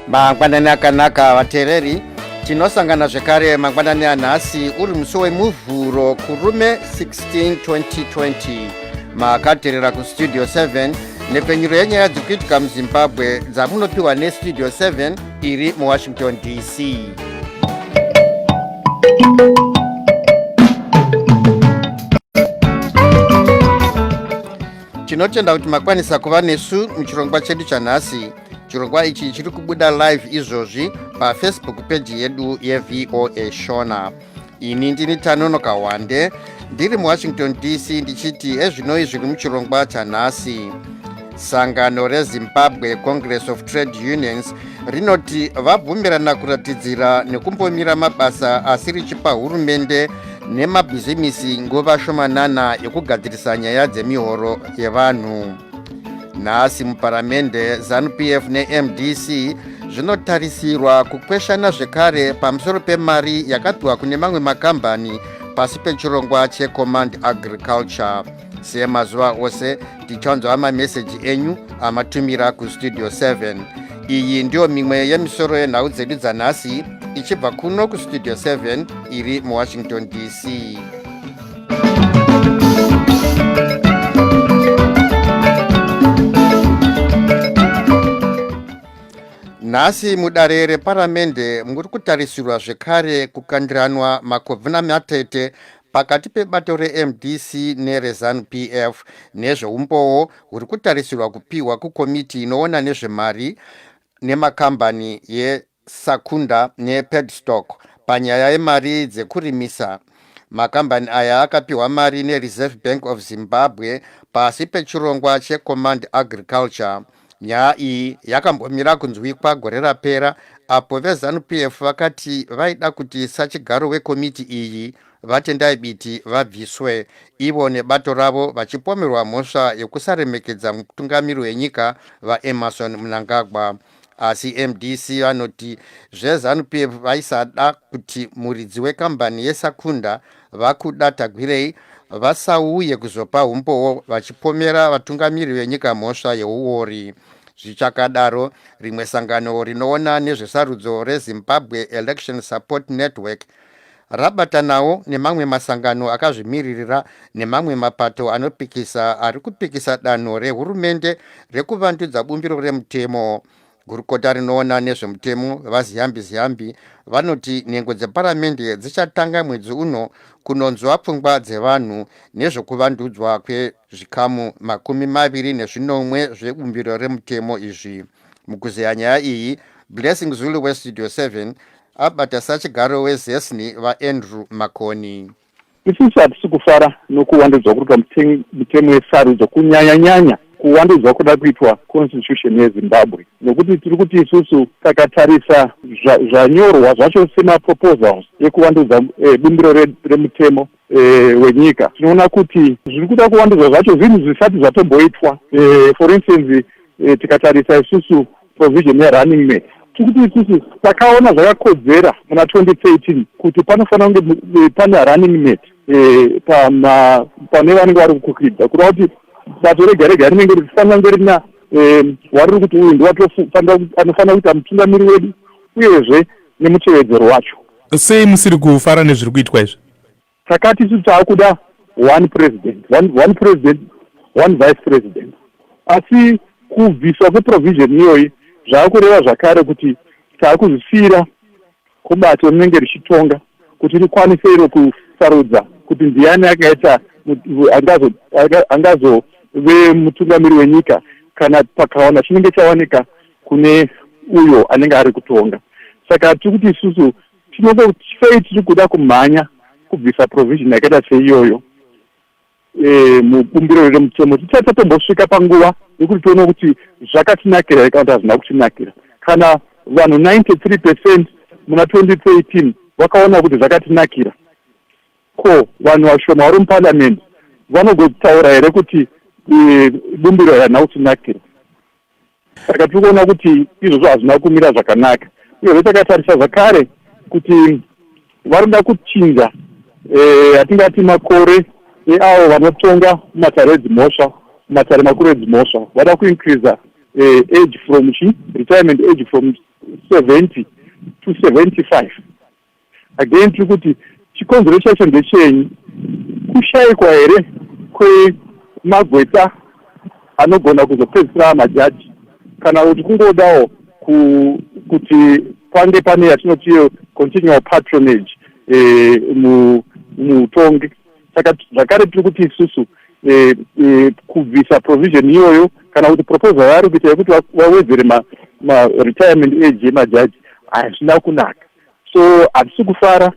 mangwanani akanaka vateereri tinosangana zvekare mangwanani anhasi uri musi wemuvhuro kurume 16 2020 makaterera kustudio 7 nepfenyuro yenyaya dziri kuitika muzimbabwe dzamunopiwa nestudio 7 iri muwashington dc tinotenda kuti makwanisa kuva nesu muchirongwa chedu chanhasi chirongwa ichi chiri kubuda live izvozvi pafacebook peji yedu yevoa shona ini ndini tanono kawande ndiri muwashington dc ndichiti ezvinoi zviri muchirongwa chanhasi sangano rezimbabwe congress of trade unions rinoti vabvumirana kuratidzira nekumbomira mabasa asi richipa hurumende nemabhizimisi nguva shomanana yekugadzirisa nyaya dzemihoro yevanhu nhasi muparamende zanupf nemdc zvinotarisirwa kukweshana zvekare pamusoro pemari yakapiwa kune mamwe makambani pasi pechirongwa checommand agriculture semazuva ose tichanzwa mameseji enyu amatumira kustudio 7 iyi ndiyo mimwe yemisoro yenhau dzedu dzanhasi ichibva kuno kustudio 7 iri muwashington dc nhasi mudare reparamende muri kutarisirwa zvekare kukandiranwa makovhina matete pakati pebato remdc nerezanup f nezveumbowo huri kutarisirwa kupiwa kukomiti inoona nezvemari nemakambani Sakunda nePadstock panyaya yemari dzekurimisa. Makambani aya akapihwa mari neReserve Bank of Zimbabwe pasi pechirongwa cheCommand Agriculture. Nyaya iyi yakambomira kunzwikwa gore rapera apo veZanu PF vakati vaida kuti sachigaro wekomiti iyi, VaTendai Biti, vabviswe, ivo nebato ravo vachipomerwa mhosva yekusaremekedza mutungamiri wenyika, VaEmmerson Mnangagwa. asi mdc vanoti zvezanu p f vaisada kuti muridzi wekambani yesakunda vakuda tagwirei vasauye kuzopa umbowo vachipomera vatungamiri venyika mhosva yeuori zvichakadaro rimwe sangano rinoona nezvesarudzo rezimbabwe election support network rabatanawo nemamwe masangano akazvimiririra nemamwe mapato anopikisa ari kupikisa danho rehurumende rekuvandudza bumbiro remutemo gurukota rinoona nezvemutemo vaziyambi ziyambi vanoti nhengo dzeparamende dzichatanga mwedzi uno kunonzwa pfungwa dzevanhu nezvekuvandudzwa kwezvikamu makumi maviri nezvinomwe zvebumbiro remutemo izvi mukuzeya nyaya iyi blessing zulu westudio 7 abata sachigaro wezesni vaandrew makoni isusu hatisi kufara nokuwandudzwa kuri pamutemo wesarudzo kunyanyanyanya kuwandudzwa kuda kuitwa constitution yezimbabwe nokuti tiri kuti isusu takatarisa zvanyorwa zvacho semaproposals ekuvandudza eh, bumbiro remutemo eh, wenyika tinoona kuti zviri kuda kuwandudzwa zvacho zvinhu zvisati zvatomboitwa eh, for instance tikatarisa isusu provision yerunning mate tikuti isusu takaona zvakakodzera muna 2013 kuti panofanira kunge eh, pane running mate eh, pama pane vanenge vari kukukwidza kureva kuti bato rega rega rinenge richifanira kunge rina eh, wariri kuti uyu ndiwatoanofanira kuita mutungamiri wedu uyezve nemutevedzero wacho sei musiri kufara nezviri kuitwa izvi saka tisu taakuda one president one, one president one vice president asi kubviswa kweprovision iyoyi zvava kureva zvakare kuti taakuzvisiyira kubato rinenge richitonga kuti rikwanise iro kusarudza kuti ndiani akaita angazove mutungamiri wenyika kana pakawana chinenge chawanika kune uyo anenge ari kutonga saka tiri kuti isusu tinenge sei tiri kuda kumhanya kubvisa provision yakaita seiyoyo e, mubumbiro rere mutemo tisati tatombosvika panguva yekuti tione kuti zvakatinakira here kana kuti hazvina kutinakira kana vanhu 93 percent muna 2013 vakaona kuti zvakatinakira ko vanhu vashoma vari muparliament vanogotaura here kuti e, bumbiro here harina kutinakira saka tiri kuona kuti izvozvo hazvina kumira zvakanaka uyezve takatarisa zvakare kuti vanoda kuchinja eh, atingati makore eavo vanotonga matare edzimhosva matare makuru edzimhosva vada kuincreasa eh, age from chi retirement age from seventy to seventy five again tiri kuti chikonzero chacho ndechenyi kushaikwa here kwemagweta anogona kuzopedzisira majaji kana kuti kungodawo kuti pange pane yatinoti continual patronage eh, muutongi saka zvakare tiri kuti isusu eh, eh, kubvisa provision iyoyo kana kuti proposal yaari kuita yekuti vawedzere maretirement age yemajaji hazvina kunaka so hatisi kufara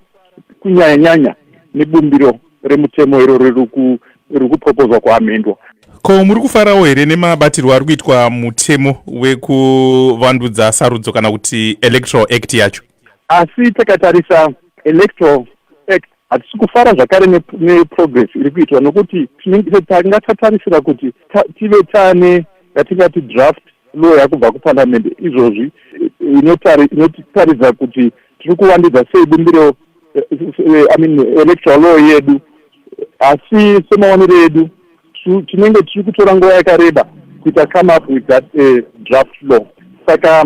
kunyanya nyanya nebumbiro remutemo iro riri kupropozwa kuamendwa ko muri kufarawo here nemabatirwo ari kuitwa mutemo wekuvandudza sarudzo kana kuti electoral act yacho asi takatarisa electoral act hatisi kufara zvakare neprogress iri kuitwa nokuti tanga tatarisira kuti tive tane yatingati draft law yakubva kuparliamende izvozvi inotaridza kuti tiri kuvandudza sei bumbiro eh, eh, i mean electoral law yedu asi semaonero edu tinenge tiri kutora nguva yakareba kuita come up with that uh, draft law saka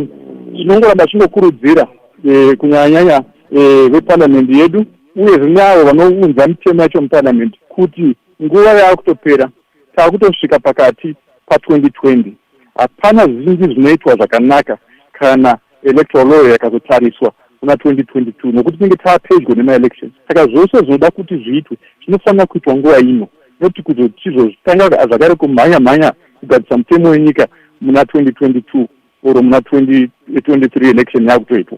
tinongoramba chingokurudzira uh, eh, kunyanyanyanya uh, eh, veparliament yedu uye zvine avo vanounza mitemo yacho muparliament kuti nguva yaakutopera taakutosvika pakati pa2020 hapana zvingi zvinoitwa zvakanaka kana electoral law yakazotsariswa kuna 2022 nokuti tinenge taapedyo nemaelections saka zvose zvinoda kuti zviitwe zvinofanira kuitwa nguva ino noti kuzochizozvitanga zvakare kumhanya mhanya kugadzisa mutemo wenyika muna 2022 or muna 2023 election yakutoitwa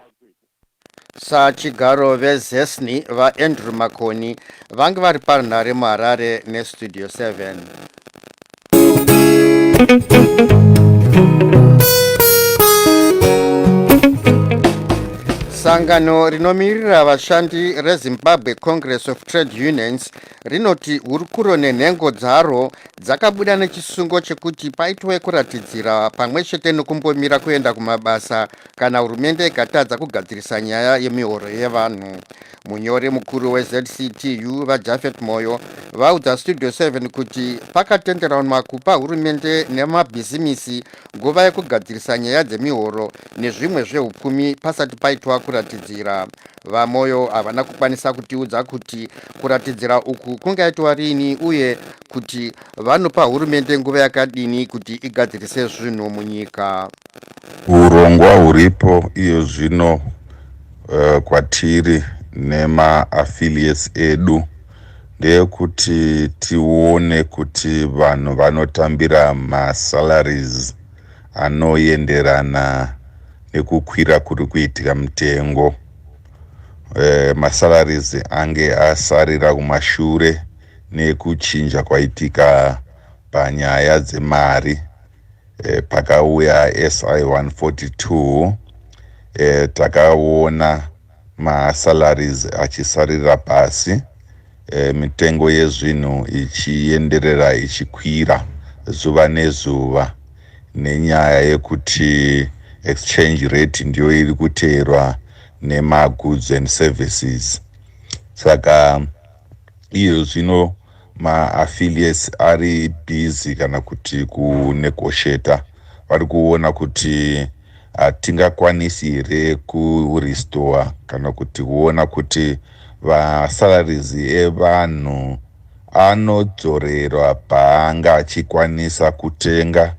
sachigaro vezesni vaandrew makoni vange vari parunhare muharare nestudio 7 sangano rinomirira vashandi rezimbabwe congress of trade unions rinoti hurukuro nenhengo dzaro dzakabuda nechisungo chekuti paitwe kuratidzira pamwe chete nekumbomira kuenda kumabasa kana hurumende ikatadza kugadzirisa nyaya yemihoro yevanhu munyori mukuru wezctu vajafet moyo vaudza studio 7 kuti pakatenderanwa kupa hurumende nemabhizimisi nguva yekugadzirisa nyaya dzemihoro nezvimwe zveupfumi pasati paitwa kuratidzira vamoyo havana kukwanisa kutiudza kuti kuratidzira uku kungaitwa rini uye kuti vanopa hurumende nguva yakadini kuti igadzirise zvinhu munyika Hurongwa huripo iyo zvino uh, kwatiri nemaaffiliates edu ndeyekuti tione kuti vanhu vanotambira masalaries anoenderana nekukwira kuri kuitika mitengo e, masalaries ange asarira kumashure nekuchinja kwaitika panyaya dzemari e, pakauya si 142 e, takaona masalaries achisarira pasi e, mitengo yezvinhu ichienderera ichikwira zuva nezuva nenyaya yekuti exchange rate ndiyo iri kuteerwa nemagoods and services saka iyo zvino maaffiliates ari busy kana kuti kunegosheta vari kuona kuti hatingakwanisi here kurestore kana kuti kuona kuti vasalaries evanhu anodzorerwa paanga achikwanisa kutenga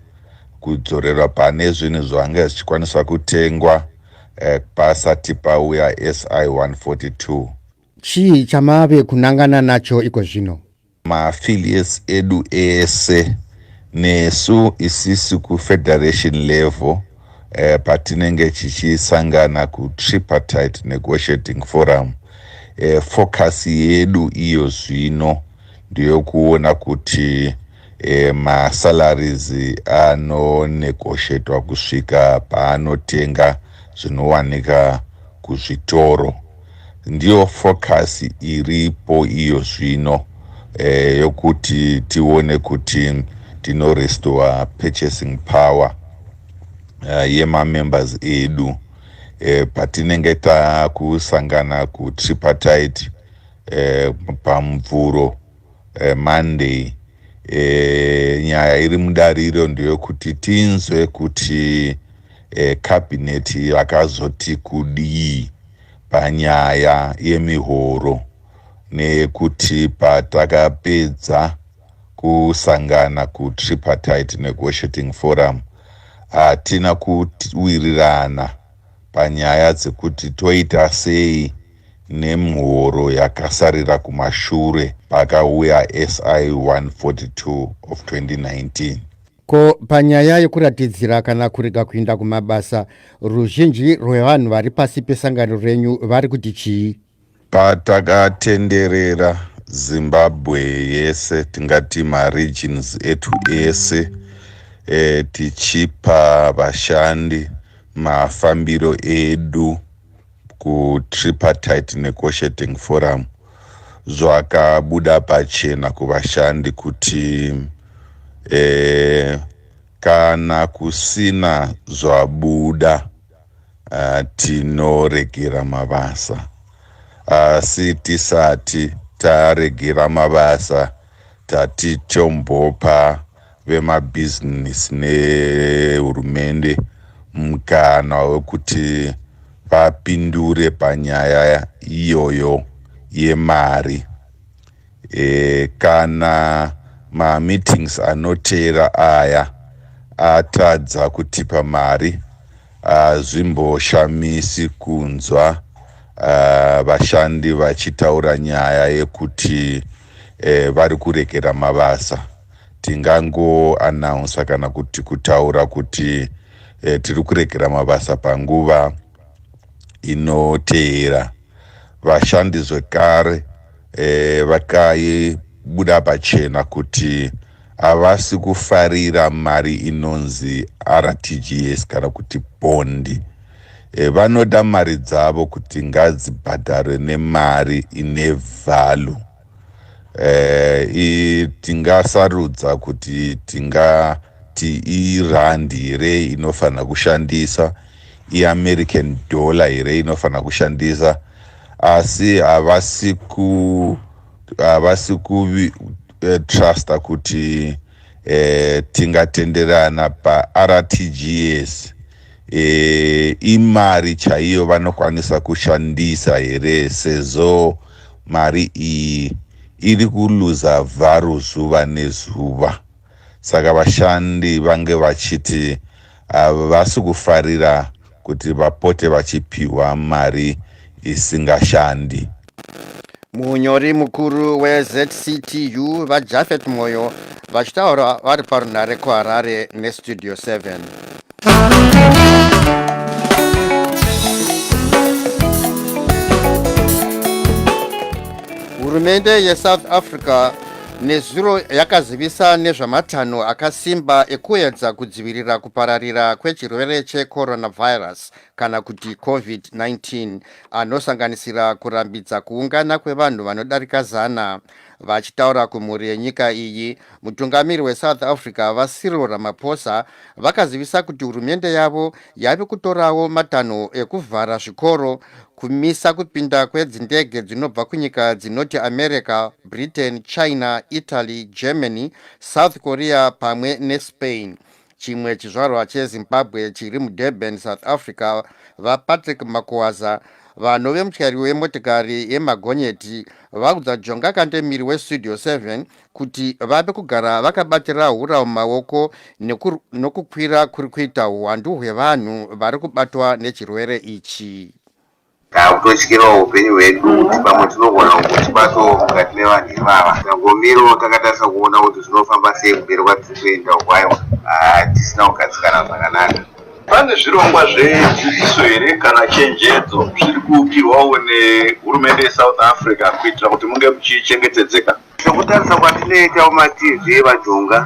kudzorerwa pane zvinhu zvaanga zvichikwanisa kutengwa eh, pasati pauya si 142 Chii chamave kunangana nacho iko zvino? Maaffiliates edu ese nesu isisi kufederation level eh, patinenge chichisangana kutripartite negotiating forum eh, focus yedu iyo zvino ndiyokuona kuti eh, masalaries anonegoshetwa kusvika paanotenga zvinowanika kuzvitoro Ndiyo focus iripo iyo zvino eh, yokuti tione kuti tino restore purchasing power eh, yemamembers edu eh, patinenge takusangana kutripartite eh, pamvuro eh, Monday eh, nyaya iri mudare iro ndeyokuti tinzwe kuti eh, cabinet vakazoti kudii panyaya yemihoro neyekuti patakapedza kusangana kutripartite negotiating forum hatina kuwirirana panyaya dzekuti toita sei nemihoro yakasarira kumashure pakauya SI 142 of 2019. Ko panyaya yekuratidzira kana kurega kuinda kumabasa, ruzhinji rwevanhu vari pasi pesangano renyu vari kuti chii? Patakatenderera Zimbabwe yese tingati maregions etu ese e, tichipa vashandi mafambiro edu kutripartite negotiating forum zvakabuda pachena kuvashandi kuti e, kana kusina zvabuda uh, tinoregera mabasa asi uh, tisati taregera mabasa tatichombopa vemabhizinesi nehurumende mukana wekuti vapindure panyaya iyoyo yemari e, kana mameetings anoteera aya atadza kutipa mari hazvimboshamisi kunzwa uh, vashandi vachitaura nyaya yekuti eh, vari kuregera mabasa tingangoanaunsa kana kuti kutaura kuti eh, tiri kuregera mabasa panguva inoteera vashandi zvekare e, vakaibuda pachena kuti havasi kufarira mari inonzi rtgs kana kuti pondi e, vanoda mari dzavo kuti ngadzibhadharwe nemari ine vhalu eh, tingasarudza kuti tingati irandi here inofanira kushandisa iamerican dollar here inofanira kushandisa asi havasi ku havasi kutrusta eh, kuti e, tingatenderana partgs e, imari chaiyo vanokwanisa kushandisa here sezvo mari iyi iri kuluza vharu zuva nezuva saka vashandi vange vachiti havasi kufarira kuti vapote vachipihwa mari isingashandi. Munyori mukuru weZCTU VaJafet Moyo vachitaura vari parunhare kuHarare neStudio 7. Hurumende yeSouth Africa nezuro yakazivisa nezvamatanho akasimba ekuedza kudzivirira kupararira kwechirwere checoronavirus kana kuti covid-19 anosanganisira kurambidza kuungana kwevanhu vanodarika zana vachitaura kumhuri yenyika iyi mutungamiri wesouth africa vasiril ramaphosa vakazivisa kuti hurumende yavo yave kutorawo matanho ekuvhara zvikoro kumisa kupinda kwedzindege dzinobva kunyika dzinoti america britain china italy germany south korea pamwe nespain chimwe chizvarwa chezimbabwe chiri mudurban south africa vapatrick makuwaza vanove mutyairi wemotikari yemagonyeti vaudza jonga kandemiri westudio 7 kuti vave kugara vakabatira hura mumaoko nokukwira kuri kuita huwandu hwevanhu vari kubatwa nechirwere ichi takutotyirawo upenyu hwedu kuti pamwe tinogona kutibato mukati mevanhu ivava tangomiro takatarisa kuona kuti zvinofamba sei kumberi kwatiri kuenda ukwayo hatisina ah, kugadzikana zvakanaka pane zvirongwa zvedzidziso here kana chenjedzo zviri kuukirwawo nehurumende yesouth africa kuitira kuti munge muchichengetedzeka Sekutarisa kwatinoita kumatv evajonga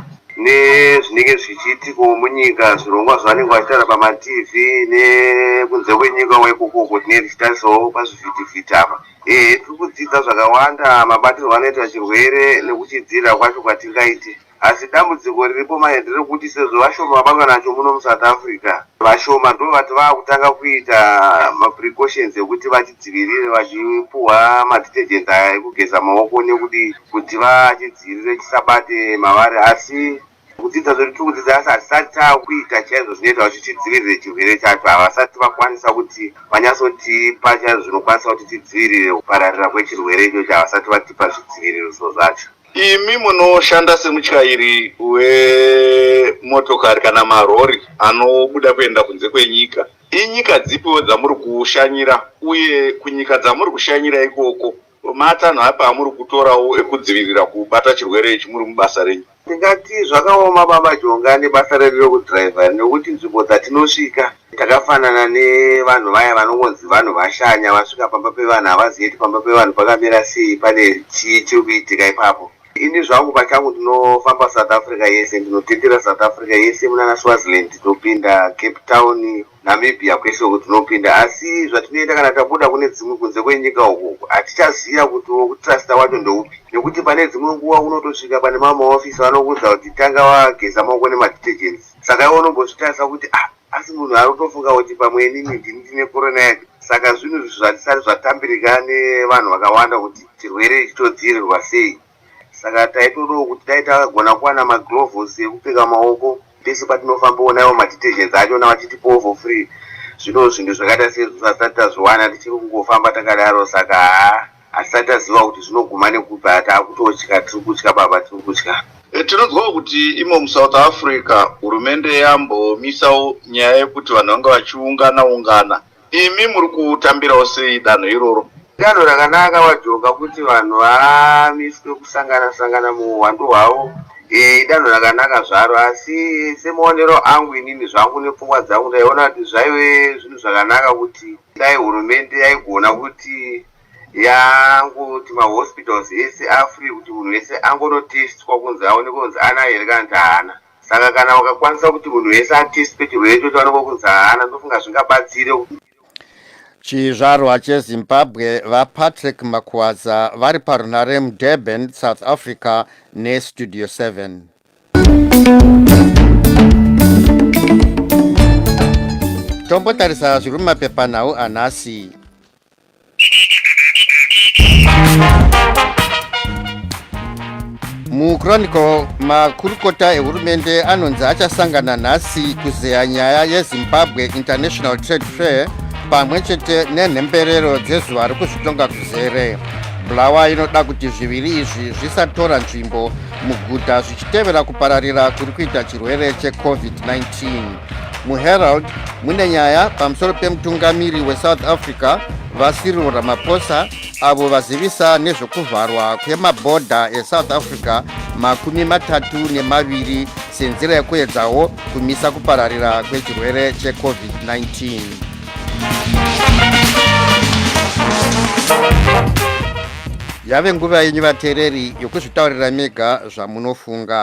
nezvinenge zvichiitikawo munyika zvirongwa zvavanenge vachitaura pamatv nekunze kwenyika wekukoko tinenge tichitarisawo pazvivhitivhiti apa ehe tiri kudzidza zvakawanda mabatirwo anoita chirwere nekuchidziirira kwacho kwatingaite Asi dambudziko riripo manje nderekuti sezvo vashoma vabatwa nacho muno muSouth Africa, vashoma ndovati vakutanga kuita maprecautions ekuti vachidzivirire vachipuhwa madetergent aya ekugeza maoko nekudii kuti vachidzivirire chisabate mavari asi kudzidza zvedu tiri kudzidza asi hatisati takuita chaizvo zvinoita kuti tidzivirire chirwere chacho havasati vakwanisa kuti vanyatsotipa chaizvo zvinokwanisa kuti tidzivirire kupararira kwechirwere ichocho havasati vatipa zvidziviririso zvacho Imi munoshanda semutyairi wemotokari kana marori anobuda kuenda kunze kwenyika, inyika dzipiwo dzamuri kushanyira uye kunyika dzamuri kushanyira ikoko matanho api amuri kutorawo ekudzivirira kubata chirwere ichi muri mubasa renyu? Ndingati zvakaoma baba Jonga nebasa redu rekudriver nekuti nzvimbo dzatinosvika Takafanana nevanhu vaya vanongonzi vanhu vashanya vasvika pamba pevanhu havazivi kuti pamba pevanhu pakamira sei pane chii chiri kuitika ipapo. Ini zvangu pachangu ndinofamba South Africa yese ndinotendera South Africa yese munana Swaziland tinopinda Cape Town Namibia kwese uku tinopinda asi zvatinoita kana tabuda kune dzimwe kunze kwenyika uku hatichaziva kuti wokutrusta wacho ndeupi nekuti pane dzimwe nguva unotosvika pane mamwe maofisi vanokuudza kuti tanga wageza maoko nemadetergents saka iwe unombozvitarisa kuti ah asi munhu ari kutofunga kuti pamwe inini ndini ndine korona yake saka zvinhu izvi zvatisati zvatambirika nevanhu vakawanda kuti chirwere ichi chodzivirirwa sei saka taitodawo kuti dai tagona kuwana magloves ekupfeka maoko pese patinofamba onaiwo madetergents acho na vachitipowo for free zvino zvinhu zvakaita sezvo zvisati tazviwana tichiri kungofamba takadaro saka haa asati aziva kuti zvinoguma nekupi ati akutotya tiri kutya baba tiri kutya eh, tinonzwawo kuti imo musouth africa hurumende yambomisawo nyaya yekuti vanhu vanga vachiungana ungana imi muri kutambirawo sei danho iroro danho rakanaka vajoka kuti vanhu vamiswe kusangana sangana muuhwandu hwavo eh, idanho rakanaka zvaro asi semaonero angu inini zvangu nepfungwa dzangu ndaiona kuti zvaive zvinhu zvakanaka kuti dai hurumende yaigona kuti yangoti mahospitals ese afree kuti munhu wese angonotestwa kunzi aone kunzi ana here kana kuti haana saka kana wakakwanisa kuti munhu wese atestwe chirwere ichocho anoko kunzi haana ndofunga zvingabatsire chizvarwa chezimbabwe vapatrick makwaza vari parunhare mudurban south africa nestudio 7 tombotarisa zviri mumapepanhau anhasi muchronicle makurukota ehurumende anonzi achasangana nhasi kuzeya nyaya yezimbabwe international trade fair pamwe chete nenhemberero dzezuva rekuzvitonga kuzere bulawa inoda kuti zviviri izvi zvisatora nzvimbo muguta zvichitevera kupararira kuri kuita chirwere checovid-19 muherald mune nyaya pamusoro pemutungamiri wesouth africa vasiril ramaphosa avo vazivisa nezvekuvharwa kwemabhodha esouth africa makumi matatu nemaviri senzira yekuedzawo kumisa kupararira kwechirwere checovid-19 yave nguva yenyu vateereri yokuzvitaurira mega zvamunofunga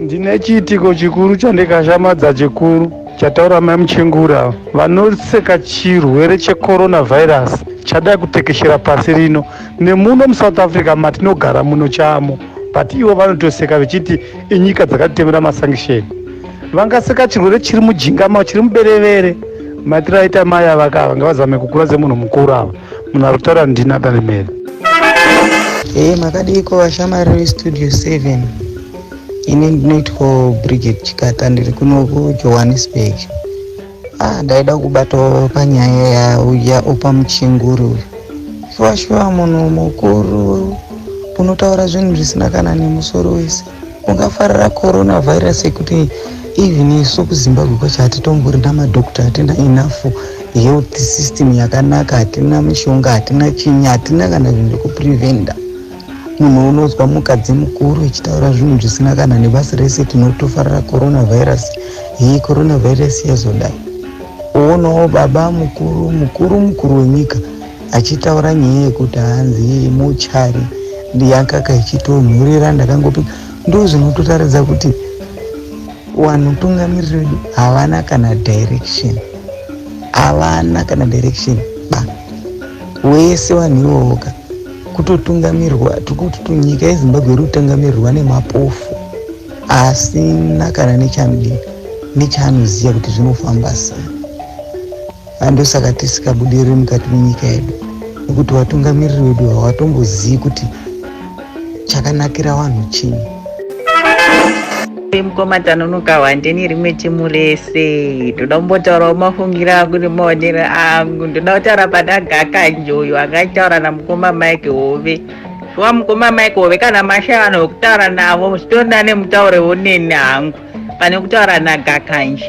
ndine chiitiko chikuru chandikashamadza chikuru chataura mai muchengura vanoseka chirwere checoronavirus chadai kutekeshera pasi rino nemuno musouth africa matinogara muno chamo but ivo vanotoseka vechiti inyika dzakatitemera masankisheni vangaseka chirwere chiri mujinga mao chiri muberevere matira aita mai avaka ava ngavazame kukura semunhu mukuru ava munhu ari kutaura ndina darimere ee eh, makadiiko vashamari vestudio 7 ini ndinoitwa brigade chikata ndiri kuno kujohannesburg Ah, ndaida kubatawo panyaya yauya opa muchinguri uyu shuwa shuwa munhu mukuru unotaura zvinhu zvisina kana nemusoro wese ungafarira coronavirus yekuti even isu kuzimbabwe kwacho hatitombori namadokta hatina enough health system yakanaka hatina mishonga hatina chinyi hatina kana zvinhu zvekupreventa Munhu unozwa mukadzi mukuru ichitaura zvinhu zvisina kana nebasi rese tinotofarira coronavirus. Hii coronavirus yazodai. Uonawo baba mukuru mukuru mukuru wenyika achitaura nyaya yekuti hanzi muchari yakaka ichitonhurira ndakangopi ndoo zvinototaridza kuti wanhu tungamiriri vedu havana kana direction havana kana direction ba wese wanhu iwowoka kutotungamirwa tikuti tunyika yezimbabwe iri kutungamirirwa nemapofu asina kana nechamdii nechaanoziva kuti zvinofamba sei andosaka tisikabudiriri mukati menyika yedu nekuti vatungamiriri vedu havatombozivi kuti chakanakira vanhu chii mukoma tanonoka wandeni rimwe timu rese ndoda kumbotaurawo mafungiro angu nemaonero angu ndoda kutaura pana gakanjoyo angataura namukoma mike hove shuwa mukoma mike hove kana mashaya vanhu vekutaura navo muchitonda nemutauro woneni hangu pane kutaura nagakanje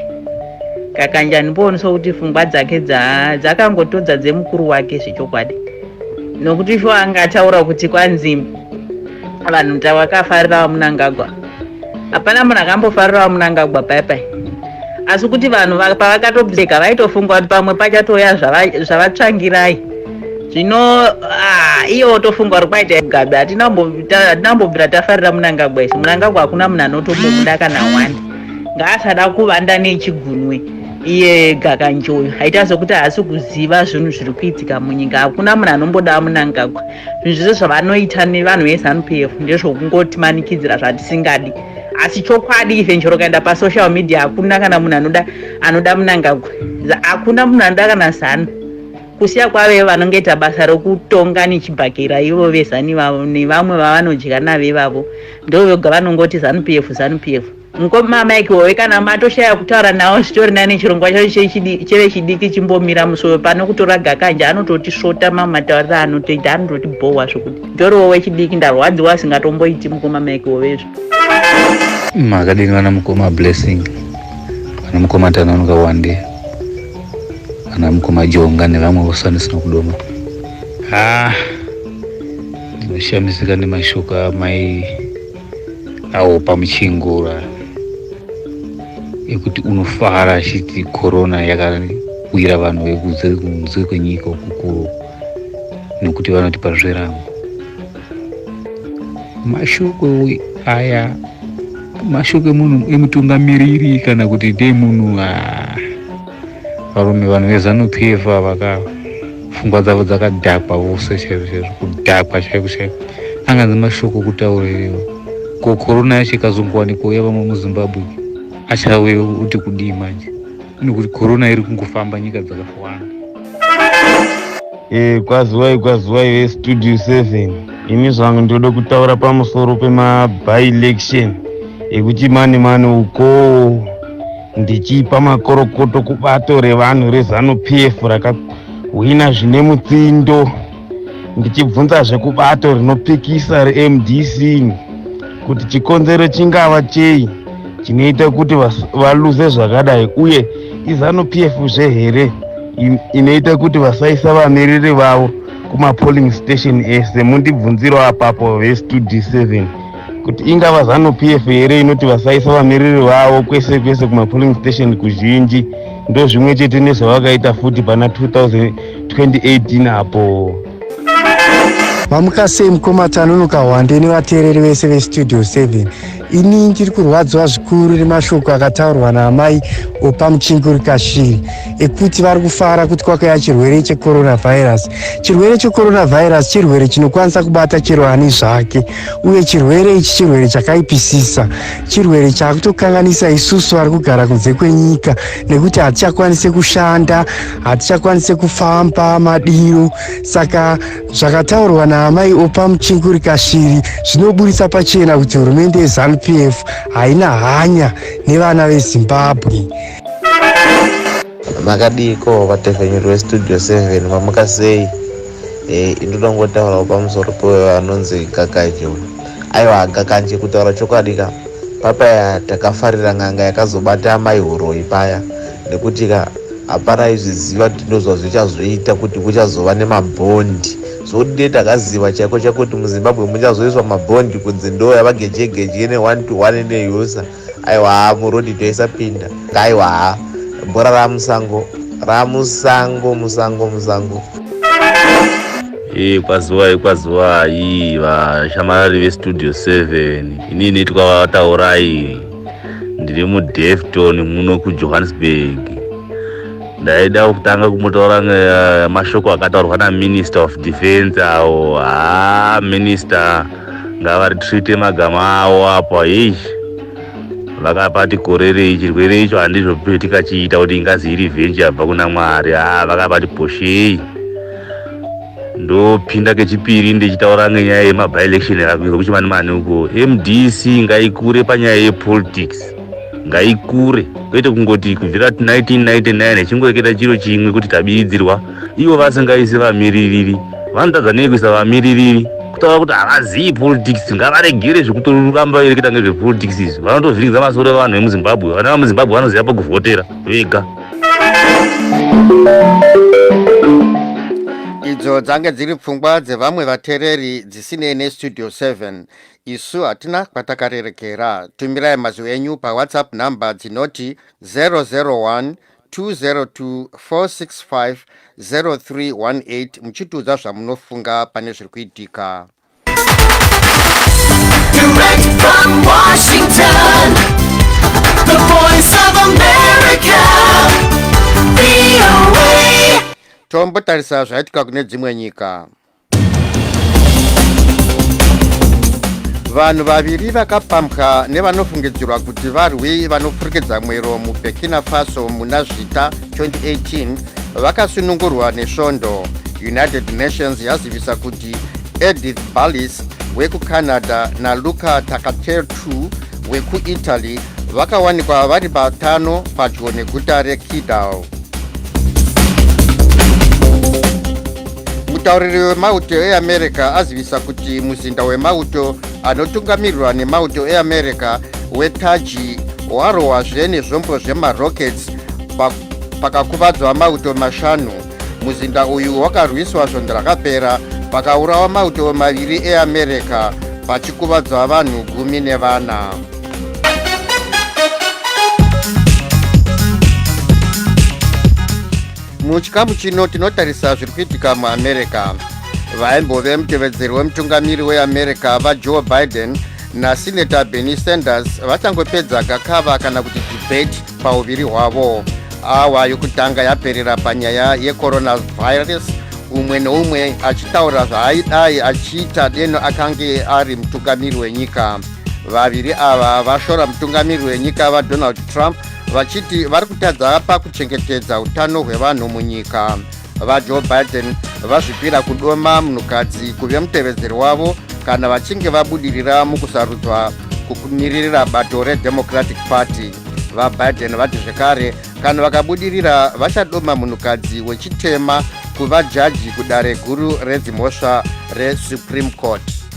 gakanje andipoonisa kuti fungwa dzake dzakangotodza dza dzemukuru wake zvechokwadi nokuti sho anga ataura kuti kwanzi vanhu tavakafarira vamunangagwa hapana munhu akambofarira vamunangagwa paipai asi kuti vanhu pavakatobleka vaitofunga kuti pamwe pachatouya zvavatsvangirai zvino ah, iye otofunga uri kwaita gabi hatina kumbobvira tafarira munangagwa isu munangagwa hakuna munhu anotombomuda kana wani ngaasada kuvanda nechigunwe iye gakanjoyo haita sokuti haasi kuziva zvinhu zviri kuitika munyika hakuna munhu anomboda munangagwa zvinhu zvese zvavanoita nevanhu vezanup f ndezvokungotimanikidzira zvatisingadi asi chokwadi ivhenjero kaenda pasocial media hakuna kana munhu anoda anoda munangagwa hakuna munhu anoda kana zanu kusiya kwave vanongoita basa rokutonga nechibhakera ivo vezani vavo nevamwe vavanodya navo ivavo ndovoga vanongoti zanu p f zanu p f mukoma mike wowe kana matoshaya kutaura nawo zvitori nani chirongwa chacho chechidi- chevechidiki chimbomira musowe pano kutora gakanja anototi svota mamwe matauriro anotoita anototi bhowa zvokuti ndoriwo wechidiki ndarwadziwa asingatomboiti mukoma mike wovezvo makadini vana mukoma blessing vana mukoma tanonoka wande ana mukoma jonga nevamwe vose vanosina kudoma ah, ndinoshamisika nemashoko amai awo pamuchingura ekuti unofara achiti korona yakawira vanhu vekunze kwenyika ukukuru nekuti vanoti pazverango mashoko aya mashoko emunhu emutungamiriri kana kuti ndeemunhu ah, varume vanhu vezanu pf avaka pfungwa dzavo dzakadhakwa vose chaizvo chaizvo kudhakwa chaiko chaiko anganzi mashoko kutaurirewo ko korona yacho ikazongowanikwa uya vamwe muzimbabwe achave kuti kudii manje nekuti korona iri kungofamba nyika dzakawanda Eh, kwaziwai kwaziwai vestudio 7 ini zvangu ndoda kutaura pamusoro pemabyelection ekuti mani mani ukoo ndichipa makorokoto kubato revanhu rezanu pf rakahwina zvine mutsindo ndichibvunza zvekubato rinopikisa remdc kuti chikonzero chingava chei chinoita kuti valuze zvakadai uye izanu p f zve here inoita kuti vasaisa vamiriri vavo kumapolling station ese mundibvunzirawo apapo vestudi 7 kuti ingava zanu pf here inoti vasaisa vamiriri vavo kwese kwese kumapolling station kuzhinji ndozvimwe chete nezvavakaita futi pana 2018 apo mamuka sei mukoma tanonoka hwande nevateereri vese vestudio 7 ini ndiri kurwadziwa zvikuru nemashoko akataurwa naamai opa muchinguri kashiri ekuti vari kufara kuti kwakaya chirwere checoronavirus chirwere checoronavirus chirwere chinokwanisa kubata chero ani zvake uye chirwere ichi chirwere chakaipisisa chirwere chakutokanganisa isusu vari kugara kunze kwenyika nekuti hatichakwanise kushanda hatichakwanise kufamba madiro saka zvakataurwa naamai opa muchinguri kashiri zvinoburitsa pachena kuti hurumende yezanupf haina hanya nevana vezimbabwe makadiiko vatevhenyuri vestudio 7 vamuka sei Eh, ndoda kungotaurawo pamusoro peanonzi gakanje uyu aiwa gakanje kutaura chokwadi ka papaya takafarira n'anga yakazobata amai huroyi paya nekuti ka hapana aizviziva kuti ndozva zvichazoita kuti kuchazova nemabhondi zvodide takaziva chaiko chaiko kuti muzimbabwe muchazoiswa mabhondi kunzi ndo yavagejegeje ne one to one neyusa aiwa murodi toisapinda ngaiwa ha bhora ramusango ramusango musango musango kwazuva ikwazuva iyi vashamarari vestudio 7 ini inoitwa vataurai ndiri mudefton muno kujohannesburg ndaida kutanga kumutaura eh, mashoko akataurwa naminister of defense awo haa ah, minister ngavaritreate magama awo apo hei vakapati korerei chirwere icho handizvo tikachiita kuti ingazi iri venji yabva kuna mwari haa vakapati poshei ndopinda kechipiri ndichitaura ngenyaya yemabielection yakuizwa kuchimani mani uko mdc ngaikure panyaya yepolitics ngaikure kwete kungoti kubvira 1999 chingoreketa chiro chimwe kuti tabiridzirwa ivo vasingaisi vamiririri vanotadza nei kuisa vamiririri kutaura kuti havazivi politics ngavaregere zvekutoramba vereketa ngezvepolitics izvi vanotovhiringidza masoro evanhu vemuzimbabwe vana vemuzimbabwe vanoziva pakuvhotera vega idzo dzange dziri pfungwa dzevamwe vatereri dzisinei nestudio 7 isu hatina kwatakarerekera tumirai mazwi enyu pawhatsapp number dzinoti 001 202-465-0318 muchitiudza zvamunofunga pane zviri kuitika Direct from Washington, the voice of America, VOA. tombotarisa zvaitika kune dzimwe nyika vanhu vaviri vakapambwa nevanofungidzirwa kuti varwi vanopfurikidza mwero muburkina faso muna zvita 2018 vakasunungurwa nesvondo united nations yazivisa kuti edith ballis wekucanada naluca takatertu wekuitaly vakawanikwa vari vatano padyo neguta rekidal mutauriri wemauto eamerica azivisa kuti muzinda wemauto anotungamirirwa nemauto eamerica wetaji warohwazve nezvombo zvemarockets pakakuvadzwa mauto mashanu muzinda uyu wakarwiswa svondo rakapera pakaurawa mauto maviri eamerica pachikuvadzwa vanhu gumi nevana muchikamu chino tinotarisa zviri kuitika muamerica vaimbove mutevedzeri wemutungamiri weamerica vajoe biden nasineta benny sanders vachangopedza gakava kana kuti debate pauviri hwavo awa yokutanga yaperera panyaya yecoronavirus umwe neumwe achitaura zvaaidai achiita deno akange ari mutungamiri wenyika Vaviri ava vashora mutungamiri wenyika vaDonald Trump vachiti vari kutadza pakuchengetedza utano hwevanhu munyika. VaJoe Biden vazvipira kudoma munhukadzi kuve mutevedzeri wavo kana vachinge vabudirira mukusarudzwa kumiririra bato reDemocratic Party. VaBiden vati zvekare kana vakabudirira vachadoma munhukadzi wechitema kuva jaji kudare guru redzimhosva reSupreme Court.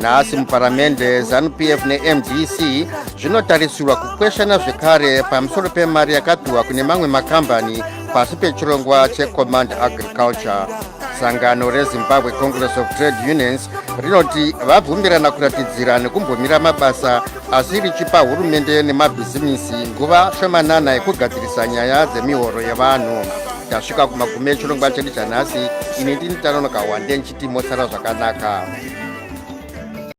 nhasi muparamende zanupf nemdc zvinotarisirwa kukweshana zvekare pamusoro pemari yakapiwa kune mamwe makambani pasi pechirongwa checommand agriculture sangano rezimbabwe congress of trade unions rinoti vabvumirana kuratidzira nekumbomira mabasa asi richipa hurumende nemabhizimisi nguva shomanana yekugadzirisa nyaya dzemihoro yevanhu tasvika kumagume echirongwa chedu chanhasi ini ndini tanonoka hwande ndichiti mosara zvakanaka